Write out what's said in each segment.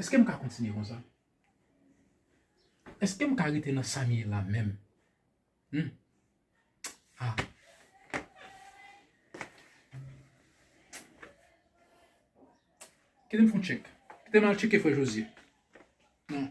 Eske m ka kontinye kon sa? Eske m ka rete nan sa m ye la menm? Humm. Ah. Kite m fon tchek. Kite m al tcheke frè Jozye. Non.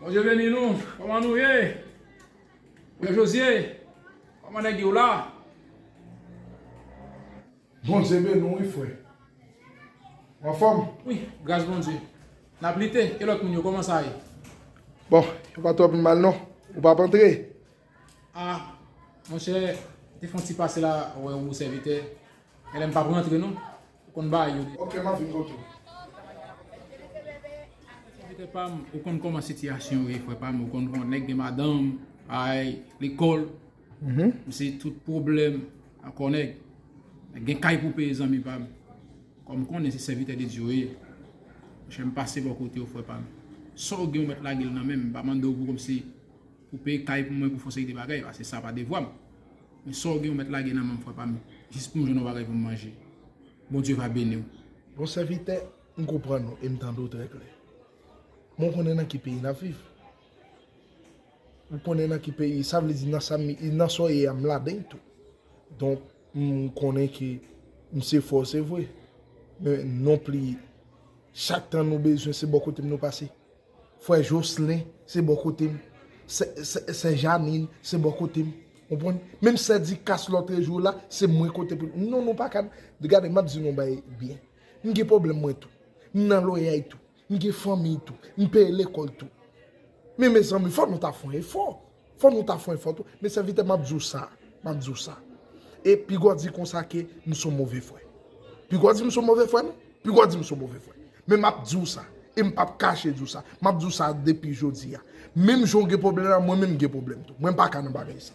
Bonje veni nou, koman nou ye? Mwen Josye, koman nèg yo la? Bonje veni nou wi fwe. Mwen fwem? Wi, gras bonje. Nap lite, e lot moun yo koman sa ye? Bon, yo pa twop mal non. Ou pap antre? Ah monchè te fon ti pase la wè ou sèvitè Elèm pap rantre non ou konn bagay yo deja. Ok map vin kote ou. Sèvitè pam ou konn kòman sitiyasyon yo ye frè pam ou konn kòman nèg gen madanm bagay lekòl se tout pwoblèm akò nèg gen kay pou peye zanmi pam kòm konnen se sèvitè de Dye ou ye monchè m pase bò kote ou frè pam sa ou gen ou mèt lage l nan menm m pa mande ou pou kòmsi Koupe kay pou mwen pou fon seri de bagay pase sa pa devwa m. Men sa w gen ou mèt lage nan men m frè pa m jis pou m jwenn yon bagay pou m manje. Bondye va beni w. Bon sèvitè, m konprann ou e m tande w trè klè. Men w konnen nan ki peyi n ap viv? Ou konnen nan ki peyi, sa vle di nan sa m, nan sa w ye a m ladann tou. Donk m konnen ke m se fò se vre, men non pli chak tan nou bezwen se bò kote m nou pase. Frè Jocelin se bò kote m. Sè Janine se bò kote m. Ou konprann? Menm sè Ducasse lòtre jou la, se mwen kote pou li. Non nou pa ka. Gade m ap di nou yon bagay byen. M gen pwoblèm mwen tou. M nan loyay tou. M gen fanmiy tou. M peye lekòl tou. Men mezanmi fò nou ta fon efò. Fò nou ta fon efò tou. Men sèvitè map di w sa, map di w sa. E pigaw di konsa ke m son move frè. Pigaw di m son move frè non. Pigaw di m son move frè. Men map di w sa. E m pap kache di w sa. Map di w sa depi jodi a. Menm jan w gen pwoblèm la, mwen menm m gen pwoblèm tou. Mwen m paka nan bagay sa.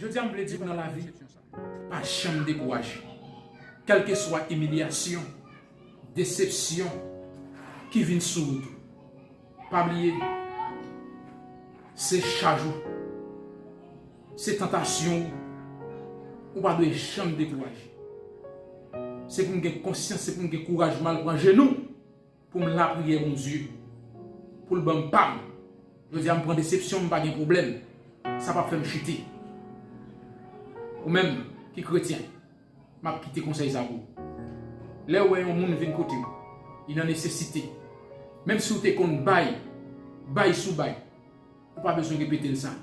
Jodi a m vle di ou nan lavi, pa janm dekouraje. Kèlkeswa imilyasyon, desepsyon ki vin sou wout ou, pa bliye se chaj ou, se tantasyon ou, ou pa dwe janm dekouraje. Se pou n gen konsyans, se pou n gen kouraj mal pran je nou. Pou m lapriyè Bondye pou l ban m pa m. Jodi a m pran desepsyon m pa gen pwoblèm sa pap fè m chite. Ou menm ki kretyen m ap kite konsèy sa pou ou. Lè ou wè yon moun vin kote ou li nan nesesite menm si ou te konn bay, bay sou bay ou pa bezwen repete l sa.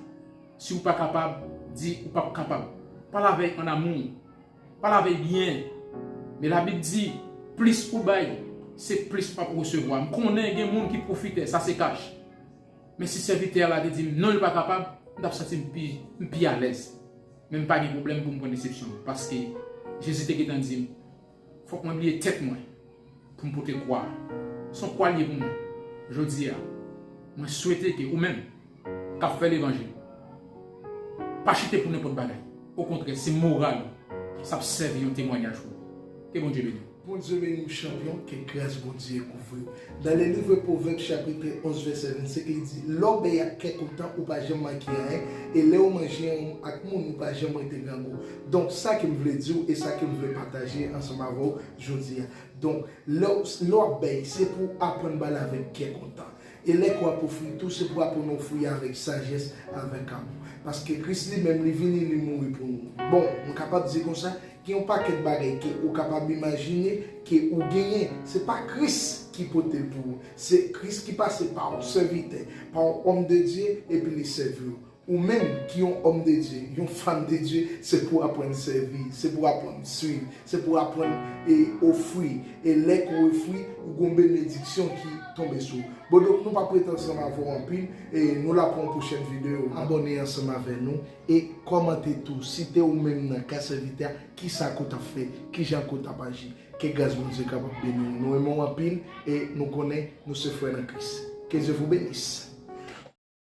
Si ou pa kapab di ou pap kapab. Pale avè l an amou. Pa lave byen. Men labib di plis ou bay se plis wap resevwa. M konnen gen moun ki pwofitè sa se kach. Men si sèvitè a la te dim non li pa kapab m tap santi m pi m pi alèz. Men m pa gen pwoblèm pou m pran desepsyon paske Jezi te gentan dim fòk mwen bliye tèt mwen. Pou m pote kwa a. S on kwa l ye pou mwen. Jodi a, mwen swete ke ou menm k ap fè levanjil pa chite pou nenpòt bagay. Okontrè, se moral ou. S ap sèvi yon temwanyaj pou ou. Ke Bondye beni w. Bondye beni w chanpyon, ke gras Bondye kouvri w. Nan le livre Proverbes chapitre 11 verset 25 li di, lè w bèy ak kè kontan ou pa janm manke anyen, e lè ou manje anwonm ak moun ou pa janm rete grangou. Donk sa ke m vle di w e sa ke m vle pataje ansanm avè w, Jodi a. Donk, lè w lè w ap bay, se pou w aprann bay avèk kè kontan. E lè ke w ap ofri tou, se pou w aprann ofri avèk sajès, avèk amou. Paske Kris li menm, li vini, li mouri pou nou. Bon, nou kapab di konsa, gen yon pakèt bagay ke ou kapab imajine ke ou genyen, se pa Kris ki pote l pou ou. Se Kris ki pase pa yon sèvitè, pa yon òm de Dye, epi li sèvi w. Ou menm ki yon òm de Dye, yon fanm de Dye, se pou w aprann sèvi, se pou w aprann swiv, se pou w aprann e ofri, e lè ke w ofri, ou gon benediksyon ki tonbe sou ou. Bon donk nou pa prete ansanm avè w anpil, e nou la pou yon pwochèn video. Abòne ansanm avè nou, e kòmante tou, si te ou menm nan ka sèvitè a, kisa ke w tap fè, kijan ke w tap aji. Ke gras Bondye kapab beni w. Nou renmen w anpil, e nou konnen nou se frè nan Kris. Ke Dye vou benis!